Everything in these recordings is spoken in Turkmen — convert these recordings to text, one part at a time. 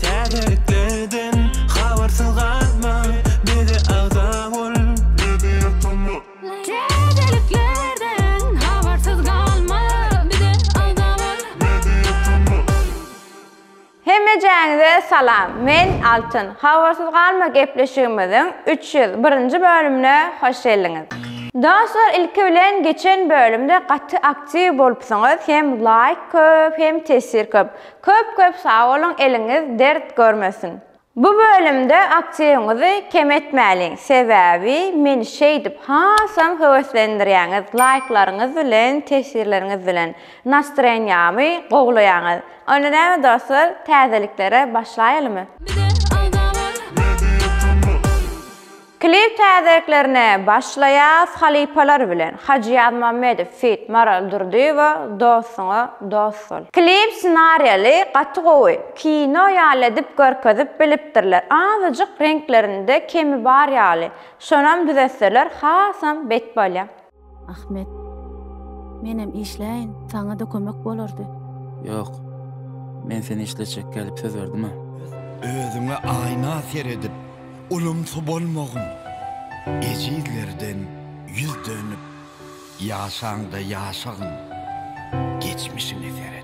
Täzelikleden habarsyz galma, bize agza bol, bizi ýatama. Täzeliklerden habarsyz galma, bize agza bol, bizi ýatama. Hemmejäňize salam, men Altyn. Habarsyz galma gepleşigimiziň üç ýüz birinji bölümine hoş geldiňiz. Dostlar ilki bilen geçen bölümde gaty Aktiw bolupsyňyz hem laýk köp hem tesir köp. Köp köp sag boluň eliňiz dert görmesin. Bu bölümde aktiwiňizi kem etmäliň sebäbi meni şeýdip hasam höweslendirýäňiz laýklaryňyz bilen tesirleriňiz bilen nastroýeniýamy gowlaýaňyz. Onda näme dostlar täzeliklere başlaýalymy. Bize agzalar. Klip täzeliklerine başlaýas halypalar bilen, Hajy Ýazmammedow feat. Maral Durdyýewa Dostuňa dost bol. Klip ssenariýaly gaty gowy, kino ýaly edip görkezip bilipdirler, azajyk reňklerinde kemi bar ýaly, şonam düzetseler hasam bet bolýar. Ahmet. Menem işläýin, saňa-da kömek bolardy. Ýok. Men seni işletjek gelip söz berdim-ä. Özüňe aýna seredip, ulumsy bolmagyn. Ejizlerden ýüz dönüp, ýaşaňda ýaşagyn. Geçmişiňe seredip.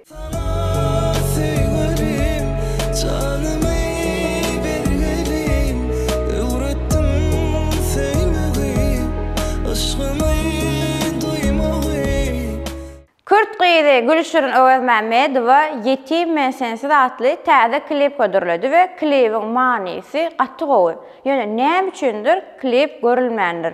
Kürt gyzy Gülşirin Öwezmämmedowa Ýetim men sensiz atly täze klip hödürledi we klibiň manysy gaty gowy. Ýöne näme üçindir klip görülmändir.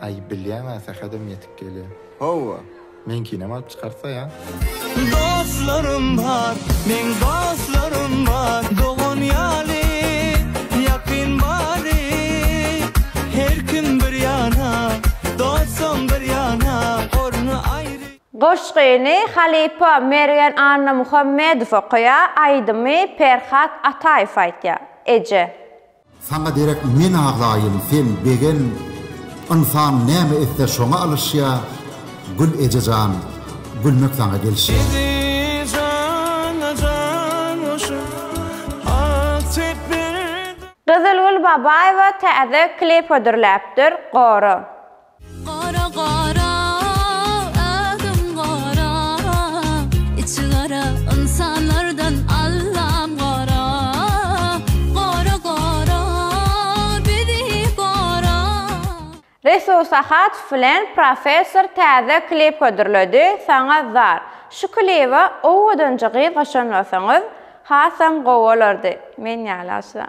Aý bilýäňä sähedem ýetip gelýär. Howwa. Meňkinem alyp çykarsa ýa. Dostlarym bar, meň dostlarym bar, dogan ýaly ýakyn bary. Her kim bir ýana, dostam bir ýana, orny aýry. Goşgyny halypa Mergen Annamuhammedow okaýar, aýdymy Perhat Ataýew aýtýar. Eje. Saňa derek men azaýyn, sen begen, Ynsan näme etse şoňa alyşýa, Gül eje jan, gülmek saňa gelşýä. Gyzylgül Babaýewa täze klip hödürläpdir, gory! Gara gara ädim gara içi gara ynsanlardan Allam gara gara gara bizi gara. Resul Sahadow bilen Professor täze klip hödürledi, Saňa zar. Şu kliba owadanca gyz goşan bolsaňyz, hasam gowy bolardy. Men ýaly asla.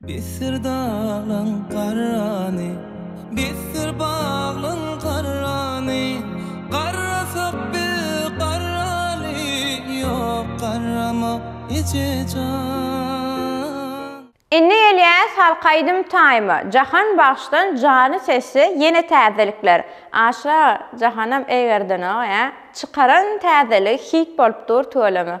Bitdir daglaň garrany, bitdir baglaň garrany, Garrasak biz garrany, ýok garramak ejejan. Indi gelýäs halk aýdym taýyma, Jahan bagşydan jany sesli ýene täzelikler. Aşa Jahanam eýgerdenok ýa. Çykaran täzeligi hit bolup dur tüweleme.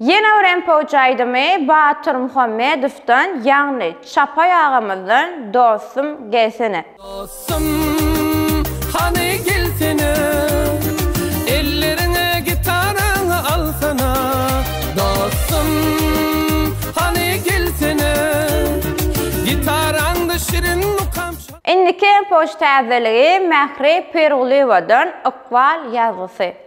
Ýene bir MPOJ aýdymy Batyr Muhammedowdan ýagny Çapaý agamyzdan Dostum gelsene. Dostum hany gelsene Elleriňe gitaraňy alsana Dostum hany gelsene Gitaraňda şirin mukam çal. Indiki MPOJ täzeligi Mähri Pirgulyýewadan Ykbal ýazgysy.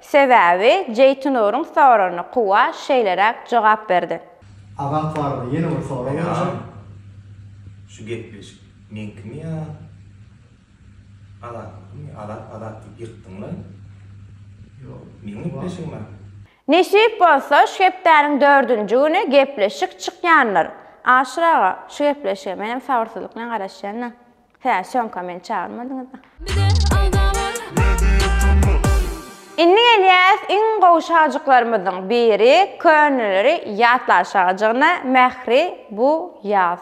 Sebäbi Jeýtunuryň soragyna Kuwa şeýleräk jogap berdi. Azat barada ýene bir sorag berjek. Şu gepleşik meňkimi ýa Azatnykymydy? Azat Azat diýip ýykdyňlaý. Meň gepleşigim bar. Nesip bolsa şu hepdäniň dördünji güni gepleşik çykýandyr. Aşyr aga, şu gepleşige menem sabyrsyzlyk bilen garaşýan-da. Hä, şonka meni çagyrmadyňyz-a. Bize alda bar. Indi gelýäs iň gowy şajyklarymyzyň biri köneleri ýatlar şajygyna Mähri bu ýaz.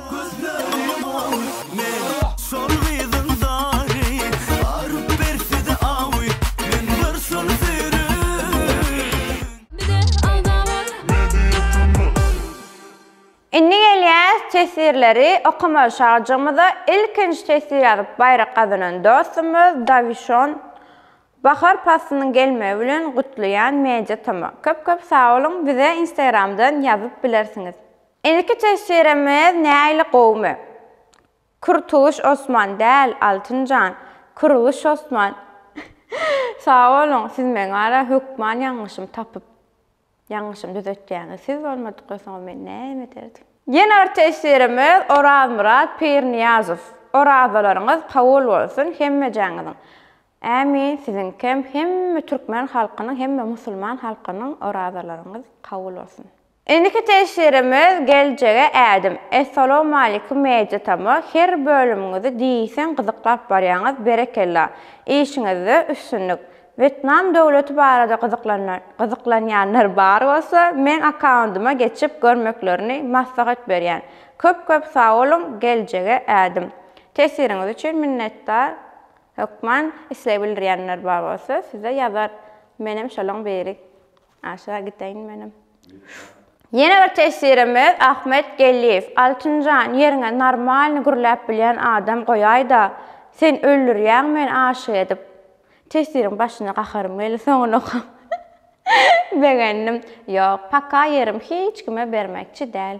Gözleri mawy men şol gyzyň zary Baryp ber size awy men bir şol söýrün. Bize agza bol. Indi gelýäs teswirleri okamaga şagjygymyza ilkinji teswir ýazyp baýrak gazanan dostumyz Dawişon bahar paslynyň gelmegi bilen gutlaýan media toma köp köp sag boluň bize instagramdan ýazyp bilersiňiz. Indiki teswirimiz näili gowumy? Kurtuluş Osman däl Altynjan Kurulyş Osman Sag boluň siz meň wara hökman ýalňyşym tapyp ýalňyşym düzetýäňiz siz bolmadykda soň men näme ederdim. Ýene bir teswirimiz Orazmyrat Pirniýazow Orazalaryňyz kabul bolsun hemmejäňiziň Ämin siziňkem hemme türkmen halkynyň hemme musulman halkynyň orazalaryňyz kabul bolsun. Indiki teşirimiz geljege ädim. Essalawmalikim Media Tama her bölümiňizi diýseň gyzyklap barýaňyz berekella. Işiňizde üstünlik. Wetnam döwleti barada gyzyklanýanlar bar bolsa meň akkaundyma geçip görmeklerini maslahat berýän. Köp köp sagboluň geljege ädim. Tesiriňiz üçin minnetdar hökman isleg bildirýänler bar bolsa size ýazar menem şolaň biri. Aşa gidäýin menem. Ýene bir teswirimiz Ahmet Gelliýew. Altynjan ýeriňe normalny gürläp bilýän adam goýaýda sen öldürýäň meni aşyk edip. Teswiriň başyna gaharym geldi soňuny okap. Begendim. Ýok paka ýerim hiç kime bermekçi däl.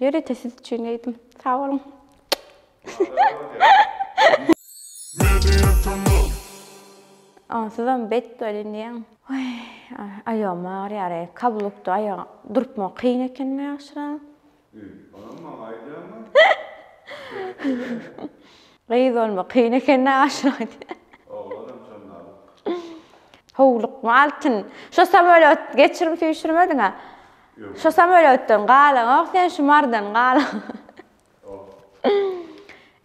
Ýörite siz üçin geýdim. Sag boluň. Onsuzam bet welin diýýän. Oý, aýagym agyrýar eý, kablukda aýaga durupma kyn eken ýagşyrak. Ýy, onam maňa aýdýaňmy? Gyz bolma kyn eken ýagşyrak diýýär. Oglanam şondalyk. Howlukma Altyn. Şo samolýot geçirim süýşürmediňä. Şu samolýotdan galaňok sen şu mardan galaň.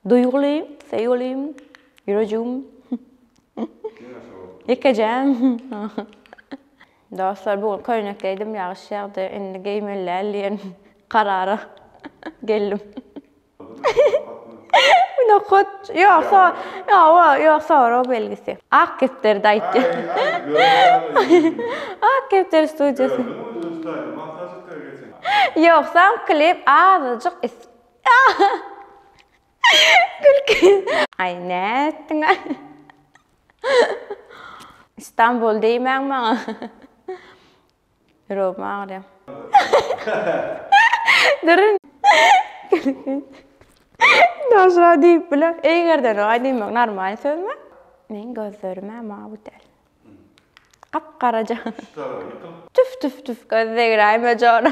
Duýguly, söýgüli, ýürejigim. Ýekejem. Dostlar bu gün köýnek geýdim ýagyş ýagdy indi geýmeli däl diýen karara geldim. Nohut. Ýok, so. Ýok, ýok, sorag belgisi. Ak kepderi daýytdy. Ak kepderi studiýasy. Ýogsam klip azajyk is. Gülki. Aý nätdiň aý. Istanbul diýmäň maňa. Ýüregim agyrýar. Durun. Daşra diýip biler. Eýgerden oňa diýmek normal sözmi? Men gözlerime mawut el. Gap-garaja. Tüf tüf tüf göz degräýme jora.